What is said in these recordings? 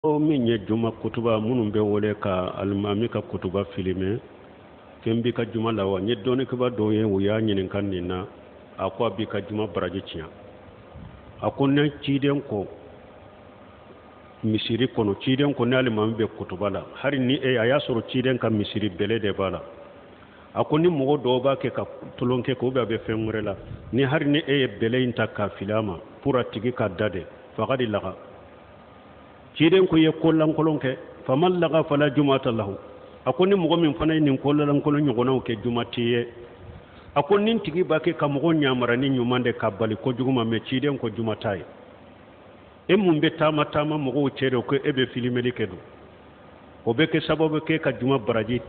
o min ye juma kutuba minnu bɛ wuli ka alimami ka kutuba filime fɛn b'i ka juma la wa n ye dɔnnikɛba dɔw ye u y'a ɲininka nin na a ko a b'i ka juma baraji tiɲɛ a ko ni ciden ko misiri kɔnɔ ciden ko ni alimami bɛ kutuba la hali ni a y'a sɔrɔ ciden ka misiri bɛlɛ de b'a la a ko ni mɔgɔ dɔw b'a kɛ ka tolon kɛ k'o bɛ a bɛ fɛn wɛrɛ la ni hali ni e ye bɛlɛ in ta k'a fili a ma pour a tigi ka da de fagadi laga ciden ko i ye ko lankolon kɛ faman laga fala jumata lahu a ko ni mɔgɔ min fana ye nin ko lankolon ɲɔgɔnnaw kɛ juma t'a ye a ko nin tigi b'a kɛ ka mɔgɔ ɲamara ni ɲuman de k'a bali ko jugu ma mais ciden ko juma t'a ye e min bɛ taama taama mɔgɔw cɛ dun ko e bɛ filimeli kɛ don o bɛ kɛ sababu kɛ ka juma baraji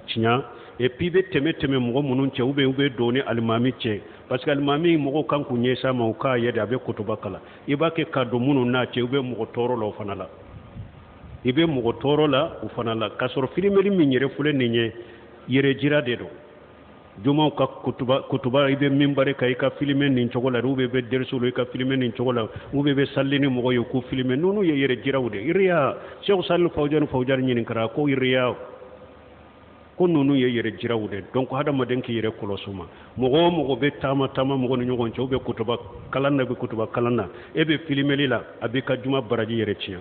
tiɲa et puis i bɛ tɛmɛ tɛmɛ mɔgɔ minnu cɛ ou bien u bɛ don ni alimami cɛ parce que alimami mɔgɔw kan k'u ɲɛsin a ma u k'a ye de a bɛ kutuba kalan i b'a kɛ ka don minnu n'a cɛ i bɛ mɔgɔ tɔɔrɔ la o fana la i bɛ mɔgɔ tɔɔrɔ la o fana la k'a sɔrɔ filimeli min yɛrɛ filɛ nin ye yɛrɛjira de don jumaw ka kutuba kutuba i bɛ minbari kan i ka filime nin cogo la ou bien i bɛ deriso la i ka filime nin cogo la ou bien i bɛ sali ni mɔgɔ ye k'o filime ninnu ye yɛrɛ jiraw de iriya sɛku salihu fawujani fawujani ɲininkara ko iriya ko ninnu ye yɛrɛ jiraw de donc hadamaden k'i yɛrɛ kɔlɔsi ma mɔgɔ o mɔgɔ bɛ taama taama mɔgɔ ni ɲɔgɔn cɛ u bɛ kutuba kalan na u bɛ kutuba kalan na e bɛ filimeli la a b'i ka juma baraji yɛrɛ tiɲɛ